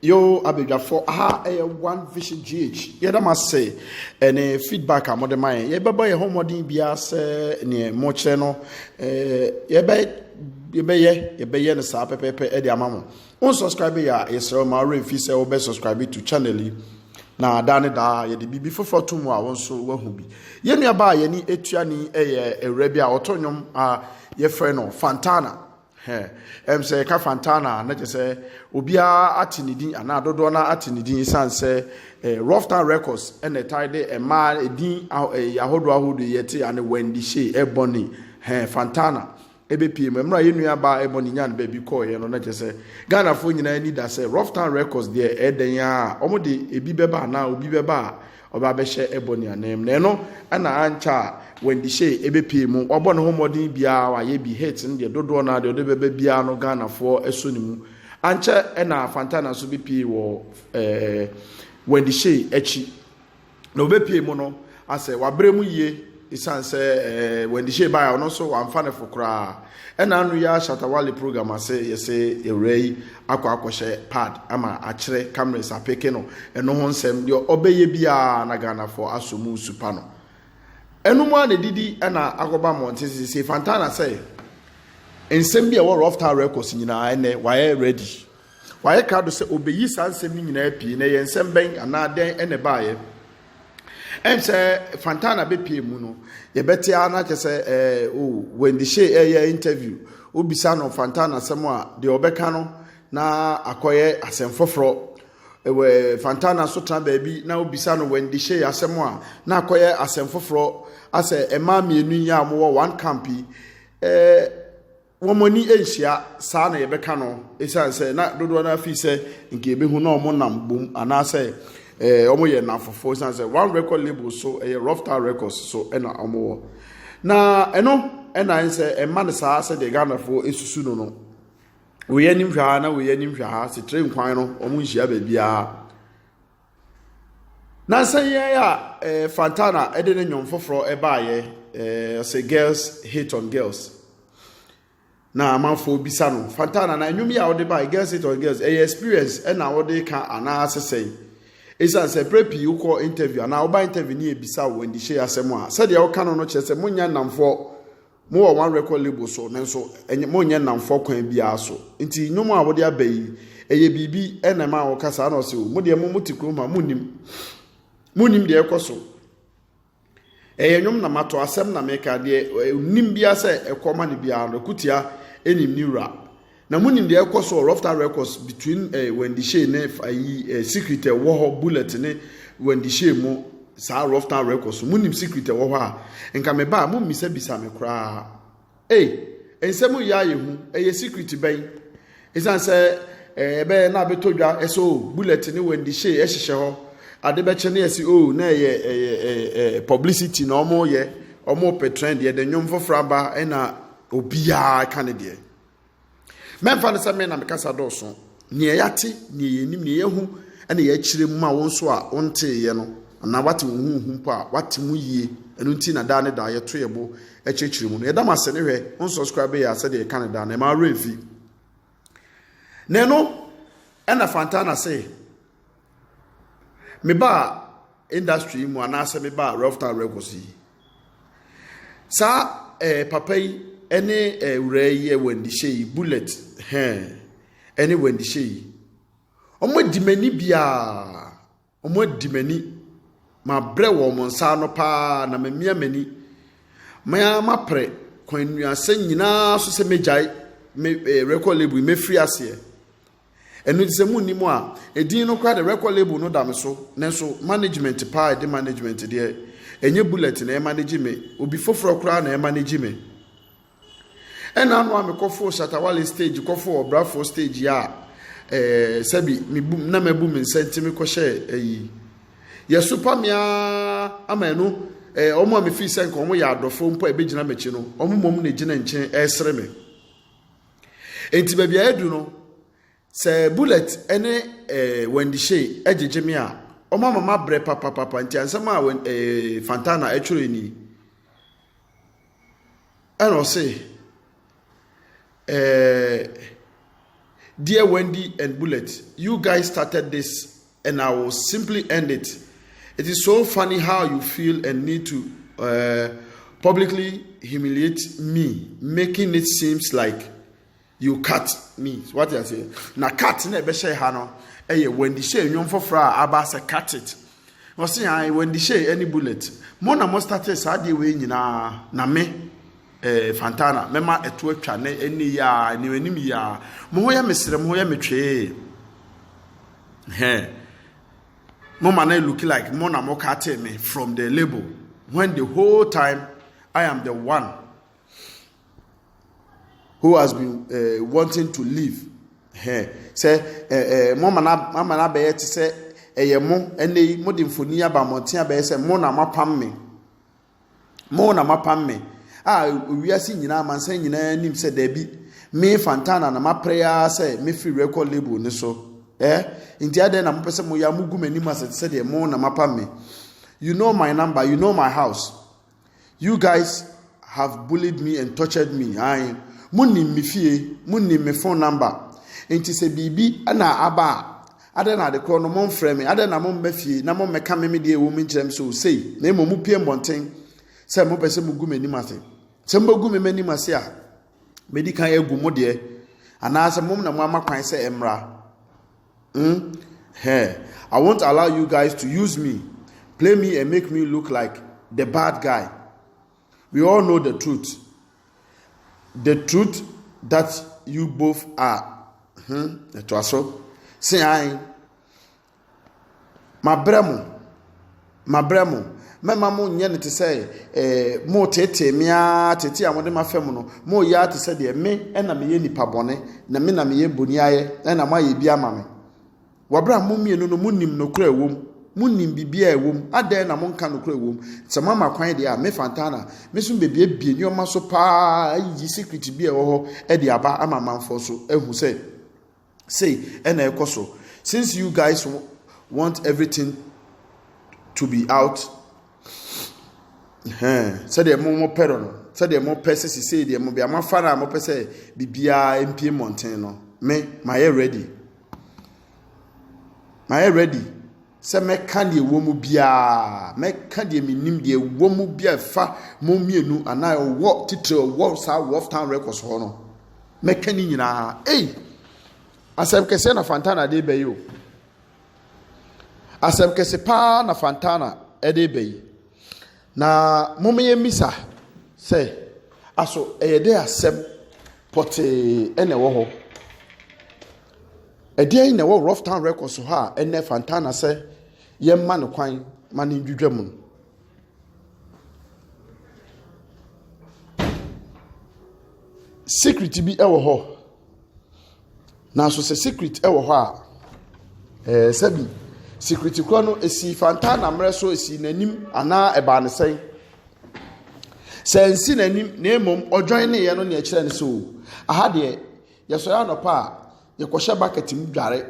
Yo abadwafo aha ɛyɛ one vision gh yɛda mo ase ɛne feedback a mode ma yɛn yɛbɛbɔ yɛn ho mmɔden biara sɛ neɛ mokyerɛ no yɛbɛ yɛbɛyɛ yɛbɛyɛ no saa pɛpɛpɛ ɛde ama mo wo subscribe yɛ a yɛsrɛ ma werɛ mfi sɛ wobɛ subscribe to channel yi na daa ne daa yɛde biribi foforɔ to mu a wo nso woahu bi yɛnnuaba a yɛne ɛtuani ɛyɛ awura bi a ɔto nnwom a yɛfrɛ no fantana Hɛ, ɛm sɛ yɛka Fantana a, na kyerɛ sɛ obiara ate ne din anaa dodoɔ no ate ne din ɛsiane sɛ eh, Rough Town Records ɛna ɛtae de ɛmaa edin ah, eh, ahodoɔ ahodoɔ yɛ te ane Wendy Shay, Ebony, hɛ, Fantana ɛbɛpie mu. Mmerɛ a yɛn nua baa Ebony nyaa no baabi kɔɔeɛ no, na kyerɛ sɛ Ghanafoɔ nyinaa ani da sɛ Rough Town Records deɛ ɛdɛn a wɔde ebi bɛba anaa obi bɛba a Ɔba abɛhyɛ bɔ ne ananmu. Na ɛno na ankyɛ a Wendy Shay bɛpue mu. Wabɔ ne ho mmɔden biara, wayɛ bi. Hit no deɛ, dodoɔ no ara deɛ ɔde bɛba biara no Ghanafoɔ sɔ ne mu. Ankyɛ na Fantana nso bɛpue wɔ eh, Wendy Shay akyi. Na ɔbɛpue mu no, asɛ wabrɛ mu yie Esiane sɛ Wendy Shay bae a ɔno nso wamfa ne fo koraa. Ɛna ano yi ara Shatta Wale program ase yɛse awuraa yi akɔ akɔhyɛ pad ama akyerɛ cameras apeke no. Ɛno ho nsɛm, deɛ ɔbɛyɛ biara na Ghanafoɔ asɔ mu nsu pa no. Ɛno mu ara na didi ɛna akɔba mmɔnten sesei. Fantana sɛ nsɛm bi a ɛwɔ Rough Town Records nyinaa ɛnɛ wayɛ ready. Wayɛ krado sɛ ɔbɛyi saa nsɛm no nyinaa pie. Na ɛyɛ nsɛm bɛn anaa dɛn ɛna ɛbaeɛ? Ɛnkyɛ Fantana bɛpue mu no, yɛbɛte ara na kyɛ sɛ ɛɛ o Wendy Shay ɛreyɛ interview. Wobisa no Fantana asɛm a, deɛ ɔbɛka no na akɔyɛ asɛm foforɔ. Ɛwɔ Fantana nso tena baabi na wobisa no Wendy Shay asɛm a, na akɔyɛ asɛm foforɔ. Asɛ mmaa mmienu yi a wɔwɔ one camp yi, ɛɛ. wɔn ani nhyia saa na yɛbɛka no esiane sɛ na dodoɔ no ara fi sɛ nka ebehu na wɔn nam bom anaasɛ ɛɛ eh, wɔyɛ nnamfofoɔ esiane sɛ one record label so ɛyɛ eh, rough town records so ɛna wɔn wɔ na ɛno ɛna ayɛ sɛ ɛma no saa sɛ deɛ ghanafoɔ esusu no no wɔyɛ anim hwɛ ha na wɔyɛ anim hwɛ ha setere nkwan no wɔn nhyia baabiara. Nansa yi ara a eh, Fantana de ne nnwom foforɔ baeɛ, eh, ɔsɛ girls hate on girls. Na amanfoɔ bisa no, Fantana na nnwom yi a wode baeɛ, girls hate on girls, ɛyɛ experience ɛna wode ka anaa sesɛn. Ɛsiane sɛ berɛ pii wokɔ interview anaa woba interview ne yɛbisa wo andihyɛ asɛm a, sɛdeɛ woka no no kyerɛ sɛ monya nnamfoɔ Mowɔ one record label so nanso ɛnyɛ monyɛ nnamfoɔ kwan biara so nti nnwom a wode aba yi ɛyɛ biribi ɛna ɛma woka saa na ɔse o mo deɛ mo mo te kurom ha monnim monnim deɛ ɛkɔ so ɛyɛ nnwom na mato asɛm na meka deɛ nim biara sɛ ɛkɔ ma no biara no ɛkutia ɛnim ne wura Na mo nim deɛ ɛkɔ so wɔ rough ta records between eh, Wendy Shay ne ayi eh, secret ɛwɔ hɔ bullet ne Wendy Shay mo saa rough ta records mo nim secret ɛwɔ hɔ a nka me ba a mo mmisa bisa me koraa ei nsɛm yɛ ayɛ hu ɛyɛ secret bɛn ɛsiane sɛ eh, ɛbɛyɛ na abɛtɔ dwa ɛsɛ o bullet ne Wendy Shay ɛhyehyɛ hɔ ade bɛkyɛ ne ɛsi o na ɛyɛ ɛyɛ ɛyɛ publicity na wɔn yɛ wɔn pɛ trend yɛ de nnwom foforɔ aba ɛna obiara ka ne deɛ. Mɛmfa no sɛ me na mekasa dɔɔso. Nea yɛate, nea yɛnim, nea yɛahu na yɛakyerɛ mu ma wo nso a wonteeɛ no, anaa wate wo ho wohu mpo a, wate mu yie. Ɛno nti na daa ne daa yɛto yɛn bo kyerɛkyerɛ mu no. Yɛda mo ase ne hwɛ, wo nsɔskraibe yɛ a sɛdeɛ yɛka no daa no, ɛma awerɛ mfi. Na ɛno ɛna Fantana se, mebaa industry mu anaasɛ mebaa Rough Town Records yi, Saa ɛɛ eh, papa yi ɛne ɛɛ wura yi yɛ wɛndihyɛ yi bullet hɛn ɛne wɛndihyɛ yi wɔn adi m'ani biara wɔn adi m'ani mabrɛ wɔn nsa ano paa na mamia m'ani mmaa maprɛ kwan nnuasa nyinaa so sɛ megyae me ɛɛ eh, record label yi mefiri aseɛ Ɛno nti sɛ monni mu a, edin no koraa deɛ record label no da me so, nanso management paa a ɛde management deɛ, ɛnyɛ Bullet na ɛmanage me, obi foforɔ koraa na ɛmanage me. Ɛna ano a mekɔfoo Shatta Wale stage, kɔfoo Ɔbrafoɔ stage a eh, sɛbi mebu na mabu me nsa nti mekɔhyɛɛ ayi. Yɛsopa me ara ama ɛno eh, wɔn a mefii sɛ nka wɔn yɛ adɔfoɔ mpo a ɛbɛgyina m'akyi no, wɔn mmom na ɛgyina nkyɛn ɛresere me. Enti baabi a adu no, sɛ Bullet ne eh, Wendy Shay gyegye me a, wɔn ama mabrɛ papapapa nti ansɛm a Wen- eh, Fantana ɛtwerɛ ni. Ɛna ɔse, eh, Dear Wendy and Bullet, you guys started this and I will simply end it. It is so funny how you feel and need to uh, publicly humiliate me, making it seems like you cut me. What I say? Now cut na ebe share hano. Eye when the share nyom for fra abasa cut it. Wọ́n sẹ́ yàn wọ́n di ṣe ẹni bullet mo na mo start saa deɛ wei nyinaa na me eh, fantana mẹ́ma ẹ̀tọ́ atwa ne ẹni yà ẹni ẹni mi yà mo ho yẹ mi sẹ̀rẹ̀ mo ho yẹ mi twẹ́ẹ́. Hɛn. Mo ma no look like mo na mo katee me from the label when the whole time I am the one who has been uh, wanting to leave. Hɛn. Sɛ ɛɛ mo ma no ama no abɛyɛ te sɛ ɛyɛ mo ɛnɛ yi mo de mfoni aba mmɔnten abɛyɛ sɛ mo na mo apam me. Mo na moapam me, a wiase nyinaa, amansan nyinaa nim sɛ daabi, me Fantana na mapere ara sɛ mɛfiri record label no so. Eh? Nti adɛn na mopɛ sɛ moyɛ a mogu m'anim asɛ te sɛ deɛ mo na moapam me? You know my number, you know my house. You guys have bullied me and tortured me. Ae, monim me fie, monim me phone number. Nti sɛ biribi na aba a, Adɛn na adekorɔ no momfrɛ me? Adɛn na momma fie na mommɛka me me deɛ ɛwɔ mu nkyerɛ me sɛ osei, na mmom mopue mmɔnten sɛ mopɛ sɛ mogu m'anim ase? Sɛ mobɛgu me m'anim ase a, mɛdi kan agu mo deɛ, anaasɛ mom na moama kwan sɛ ɛmmra? Hmm? Hɛɛ, I won't allow you guys to use me, play me and make me look like the bad guy. We all know the truth, the truth that you both are. Hmm, ɛtoa so. Se ae. Mabrɛ mo. Mabrɛ mo. Mɛma mo nyɛ no te sɛ eh, mo tete me ara tete a mode ma fam no mo yɛ ara te sɛ deɛ me na meyɛ nipa bɔne na me na meyɛ boniayɛ na moayɛ bi ama me. Wɔ bere a mo mmienu no munnim nokorɛ a ɛwom, monnim biribiara a ɛwom, adɛn na monka nokorɛ a ɛwom? Sɛ moama kwan deɛ a, me Fantana, me nso mebɛbuebue nneɛma so pa ara ayiyi secret bi a ɛwɔ hɔ de aba ama amanfoɔ so ahu sɛ sei na ɛrekɔ so. Since you guys want everything to be out, hɛn, sɛdeɛ mo mo pɛ no, sɛdeɛ mo pɛ sɛ sisei deɛ mo bia mo afa no a mo pɛ sɛ biribiara mpie mmɔnten no, me, mayɛ ready. Mayɛ ready sɛ mɛka deɛ ɛwɔ mu biara, mɛka deɛ menim, deɛ ɛwɔ mu bi a ɛfa mo mmienu anaa ɛwɔ titire ɛwɔ saa Wolf Town Records hɔ no. Mɛka ne nyinaa. Ei! Asɛm kɛseɛ na Fantana de bɛyi o. Asɛm kɛse paa na Fantana de bɛyi. Na momma yɛmmisa sɛ, Aso ɛyɛ dɛ asɛm pɔtee na ɛwɔ hɔ? Ɛdeɛn na ɛwɔ Rufftown Records hɔ a ɛnnɛ Fantana sɛ yɛmma no kwan ma no ndwidwa mu no? Secret bi wɔ hɔ. Nanso sɛ secret wɔ hɔ a, ɛɛ sɛbi secret korɔ no esi fantaa na mmerɛ so esi n'anim anaa ɛbaa ne sɛn. Sɛ nsi n'anim na mmom ɔdwan ne yɛ no na ɛkyerɛ no so. Aha deɛ yɛsɔre anɔpa a yɛkɔhyɛ bucket mu dware.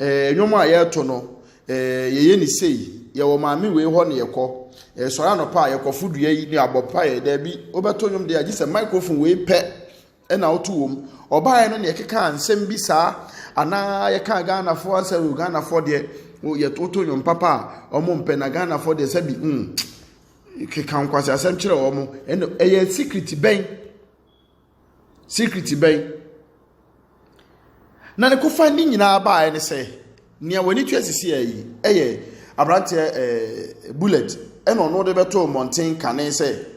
Ɛɛ nnwom a yɛreto no ɛɛ yɛyɛ ne sei yɛwɔ maame wei hɔ na yɛkɔ. Ɛɛ sɔre anɔpa a yɛkɔfo dua yi ne abɔ mpaeɛ daabi wobɛto nnwom deɛ agye sɛ microphone wei pɛ na ɔto wɔ mu. Ɔbaeɛ no na yɛkekaa nsɛm bi saa anaa yɛkaa Ghanafoɔ asɛ o Ghanafoɔ deɛ woto nnwom papa a wɔmpɛ na Ghanafoɔ deɛ sɛbi mm keka nkwasi asɛm kyerɛ wɔn ɛna ɛyɛ sikiriti bɛn sikiriti bɛn na ne kofa ne nyinaa baeɛ ne sɛ nea wɔn ani twɛ sisi yi ɛyɛ aberanteɛ ɛɛ bullet ɛna ɔno de bɛto mmɔnten kane sɛ.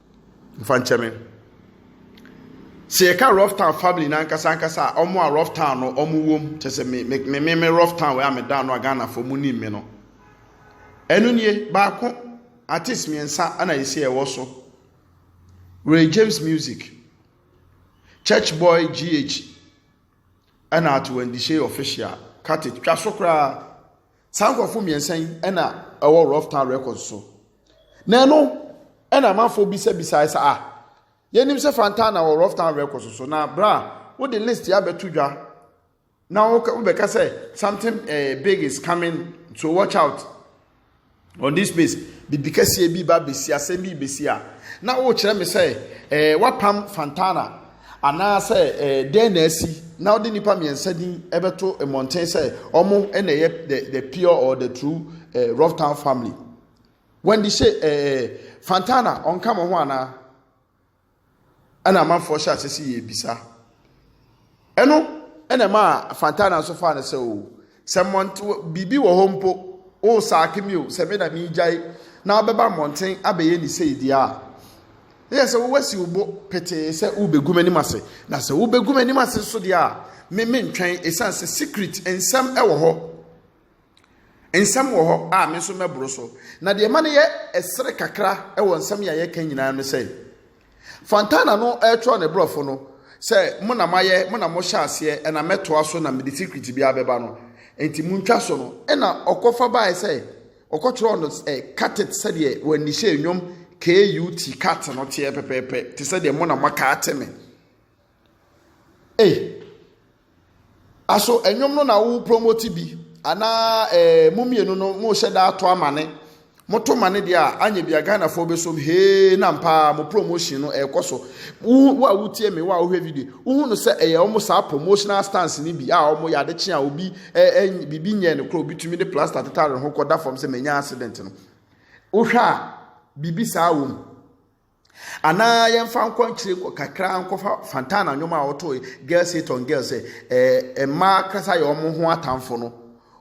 Mfa nkyɛ me. Sɛ yɛka Rough Town family no ankasa ankasa a, wɔn a Rough Town no wɔn wom, kyɛ sɛ me me me me Rough Town wei a meda no a Ghanafoɔ mu nim me no. Ɛno nie baako artist mmiɛnsa na yɛsi ɛwɔ so. Ray James Music, Church Boy GH, ɛna Atuwandishe Official, Kate twa so koraa. saa nkurɔfo mmiɛnsa yi na ɛwɔ rough town records so na ɛno ɛna amanfoɔ bisabisa ɛsɛ a yɛnim sɛ fanta na wɔ rough town records so na bra wode list yɛ abɛto dwa na wobɛka sɛ something uh, big is coming so watch out on this space bibi kɛseɛ bi ba bɛsi asɛm bi bɛsi a na wokyerɛ me sɛ eh, wapam fantana Anaasɛ dɛn na asi na wode nnipa mmiɛnsa din bɛto mmɔnten sɛ ɔmo na ɛyɛ the, the pure or the true eh, Rough Town family? Wendy hyɛ eh, Fantana ɔnka mo ho anaa? Ɛna amanfoɔ hyɛ ase si yɛ bisa. Ɛno ɛna ɛma Fantana nso faa no sɛ o, oh, Sɛ mmɔnte biribi wɔ hɔ mpo, wosaake me o, sɛ me na meregyae na wobɛba mmɔnten abɛyɛ ne sei deɛ a, na yɛ sɛ wowasi wo bo petee sɛ wobɛgu m'anim ase. Na sɛ wobɛgu m'anim ase nso deɛ a, me mentwɛn ɛsiane sɛ secret nsɛm wɔ hɔ. Nsɛm wɔ hɔ a me nso mɛboro so. Na deɛ ma no yɛ ɛsere kakra wɔ nsɛm yɛ a yɛka nyinaa no sɛ, Fontana no retwerɛ ne brɔfo no sɛ, Mo na moayɛ, mo na mohyɛ aseɛ, ɛna mɛtoa so na mede secret biara bɛba no. Enti montwa so no. Ɛna ɔkɔfa baeɛ sɛ, ɔkɔtwerɛɔ no ɛ, cut it sɛdeɛ wɔanihyɛ nnwom KUT cut no teɛ pɛpɛɛpɛ, te sɛ deɛ mo na moaka ate me. Ei, aso nnwom no na wo promote bi anaa eh, mo mmienu no mo hyɛ da ato amane. Moto mane deɛ a anyɛ bi a Ghanafoɔ bɛsom hee na mpaa mo promotion no ɛrekɔ so. Wo a wotie me, wo a wohwɛ video, wohu no sɛ ɛyɛ wɔn saa promotional stance no bi a wɔn yɛ adekye a obi ɛɛ biribi nyɛ no kora obi tumi de plaster tetare ho kɔda fam sɛ manya accident no. Wohwɛ a biribi saa wɔ mu. Anaa yɛmfa nkɔ nkyerɛ kɔ kakra nkɔfa Fantana nnwom a ɔtoe Girls Hate on Girls sɛ ɛɛ mmaa kasa yɛ wɔn ho atamfo no.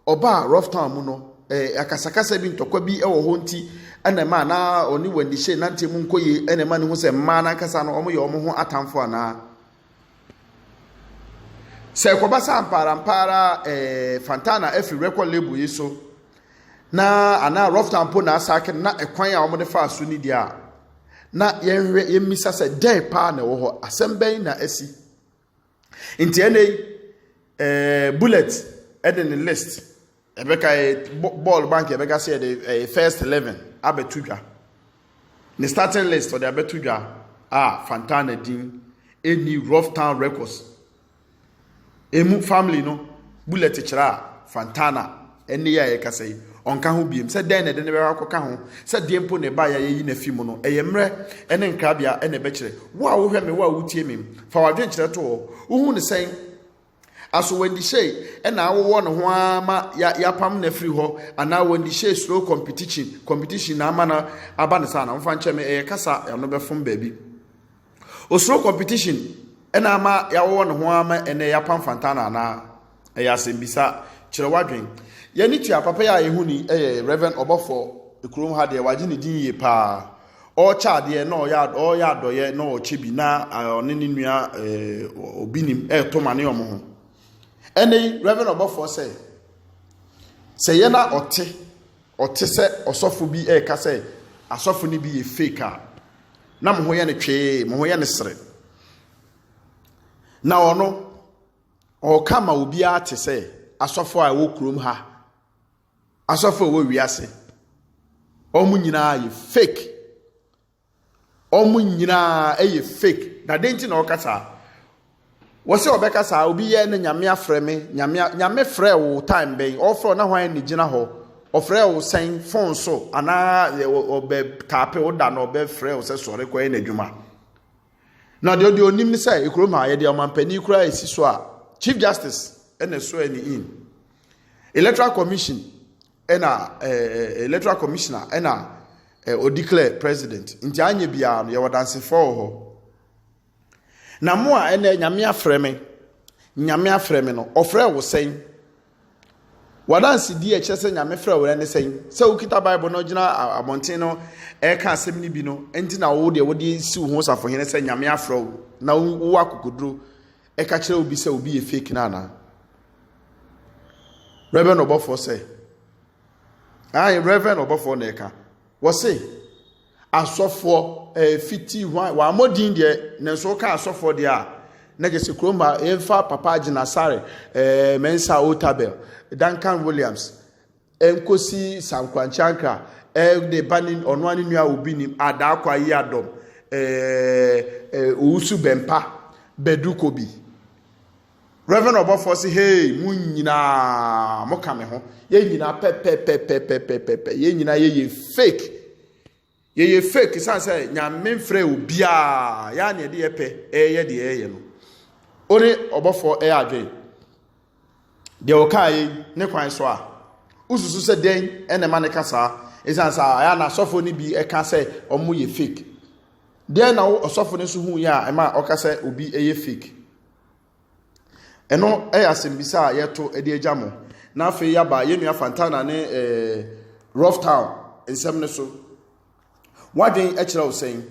Ɔbaa Rough Town mu no, ɛɛ akasakasa bi ntɔkwa bi wɔ hɔ nti ɛna ɛma na ɔne Wendy Shay nante mu nkɔ yie ɛna ɛma ne hu sɛ mmaa n'ankasa no wɔn yɛ wɔn ho atamfo anaa. Sɛ ɛkɔba sɛ ampaarampaara eh, Fantana afiri record label yi so na anaa Rofta mpo na asake na ɛkwan a wɔde faa so ni deɛ a na yɛnhwɛ yɛmmisa sɛ dɛn paa na ɛwɔ hɔ asɛm bɛn na asi nti ɛnɛ yi eh, bullet ɛde ne list Ɛbɛka yɛ bɔɔl bank yɛbɛka sɛ yɛde ɛyɛ first eleven abɛto dwa ne starting list ɔde abɛto dwa a Fantana din ɛni Rough Town Records ɛmu family no bullet kyerɛ a Fantana ɛne yɛ a yɛkasa yi ɔnka ho biem sɛ dɛn na ɛde ne bɛkɔ akɔka ho sɛ deɛ mpo na ɛba yɛ yɛyi n'afi mu no ɛyɛ mmerɛ ɛne nkrabea ɛna ɛbɛkyerɛ wo a wohwɛ me wo a wotie me fa wadwenkyerɛ to hɔ wohu ne sɛn Asowandihyɛe na awowɔ no ho ara ma yɛapam no afiri hɔ anaa wandihyɛe slow competition competition na ama no aba no saa na mfa nkyɛ me ɛyɛ kasa ano bɛfom baabi o slow competition na ama yɛawowɔ no ho ara ma ɛnɛ yɛapam fantana anaa ɛyɛ asɛmbisa kyerɛ wadwen yɛne tua papa yi a yɛhu ni ɛyɛ reverend ɔbɔfo kurom ha deɛ wagye ne din yie paa ɔrekyɛ adeɛ na ɔyɛ ɔreyɛ adɔyɛ na ɔrekyɛ bi na ɔne ne nua obi nim ɛreto ma ne wɔn ho ɛnna yi reverend ɔbɔfoɔ sɛ sɛ yɛ na ɔte ɔte sɛ ɔsɔfo bi ɛreka sɛ asɔfo no bi yɛ fake a na mo ho yɛ ne twee mo ho yɛ ne sere na ɔno ɔreka ma obiara te sɛ asɔfo a ɛwɔ kurom ha. Asɔfo a ɛwɔ wiase, wɔn nyinaa yɛ fake. Wɔn nyinaa yɛ fake. Na den nti na wɔka saa? Wɔsɛ wɔbɛka saa, obi yɛ ne nyame afrɛ me, nyame nyame frɛ wo time bɛn? Ɔfrɛ wo na hwan ne gyina hɔ? Ɔfrɛ wo sɛn phone so anaa ɔbɛ taape wo da na ɔbɛfrɛ wo sɛ sɔre kɔyɛ n'adwuma. Na deɛ ɔde onim ne sɛ ekurom ha yɛde ɔmampanin koraa esi so a Chief Justice ɛna ɛsoɛ ne in. Electoral Commission ɛna ɛɛ Electoral Commissioner ɛna ɛɛ ɔdeclare president nti anyɛ biara no yɛwɔ dansefoɔ wɔ hɔ na mo a ɛnɛ nyame afrɛ me nyame afrɛ me no ɔfrɛ wo sɛn wadansedie ɛkyerɛ sɛ nyame frɛ wo ne sɛn sɛ wokita bible no gyina abɔnten no ɛka asɛm no bi no nti na wo deɛ wode si wo ho safohene sɛ nyame afrɛ wo na wo akokoduro ɛka kyerɛ obi sɛ obi yɛ fake no anaa reverend ɔbɔfoɔ sɛ ayi reverend ɔbɔfoɔ na ɛka wɔse asɔfoɔ ɛɛ eh, fiti hwan wɔn amɔdin deɛ na nso ka asɔfoɔ deɛ a na gyesi kurom a yɛnfa papa gyina sare ɛɛ eh, mɛnsa otabel duncan williams ɛnkɔsi sankwankyankra ɛɛ ne ba ne ɔno ara ne nua obi nim adaakɔ ayi adɔm ɛɛ owusu bɛmpa bɛdu kɔ bi reverend ɔbɔfoɔ se hey mo nyinaa mo ka me ho yɛn nyinaa pɛpɛpɛpɛpɛpɛpɛ yɛn nyinaa yɛyɛ fake Yɛyɛ fake ɛsiane sɛ nyame mfrɛ obiara yɛa ne ɛde yɛpɛ ɛyɛ deɛ ɛyɛ no wo ne ɔbɔfoɔ ɛyɛ adwen deɛ ɔkaa yi ne kwan so a wosusu sɛ dɛn ɛna ɛma ne ka saa ɛsiane sɛ ɛyɛ na asɔfoɔ no bi ɛka sɛ ɔmo yɛ fake deɛ na wo ɔsɔfo no nso hu yɛ a ɛma ɔka sɛ obi ɛyɛ fake Ɛno yɛ asɛmbisa a yɛto de agya mo. Na afei yɛaba yɛn nua Fantana ne ɛɛ eh, Rough Town nsɛm no so. Wadwen kyerɛ wo sɛn?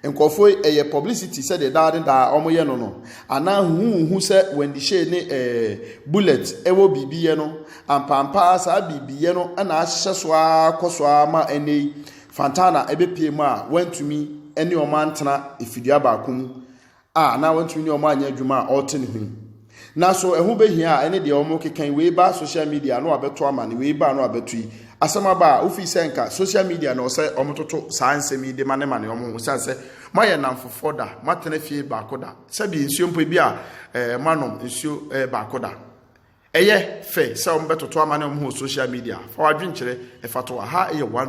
Nkurɔfoɔ yi ɛyɛ publicity sɛdeɛ daa ne daa wɔyɛ no no anaa huhu sɛ Wendy Shay ne ɛɛ eh, Bullet ɛwɔ biribiyɛ no ampampaa saa biribiyɛ no na ahyɛ so ara kɔ so ara ma ɛnɛ yi Fantana ɛbɛpie mu a wantumi ne wɔn antena efidua baako mu a anaa wɔntumi ne wɔn anyɛ adwuma a ɔrete ne ho yi. Na so ɛho behia a ɛne deɛ wɔn keka yi wei ba social media no abɛto ama ne wei ba no abɛto yi asɛm aba a wofi sɛ nka social media na ɔsɛ wɔn toto saa nsɛm yi de ma ne ma ne wɔn ho sɛ sɛ moayɛ namfofoɔ da moatena fie baako da sɛbi nsuo mpo ebi a ɛɛ eh, moanom nsuo ɛɛ eh, baako da ɛyɛ fɛ sɛ wɔn bɛtoto ama ne wɔn ho social media fa wadwenkyerɛ ɛfa to aha ɛyɛ one.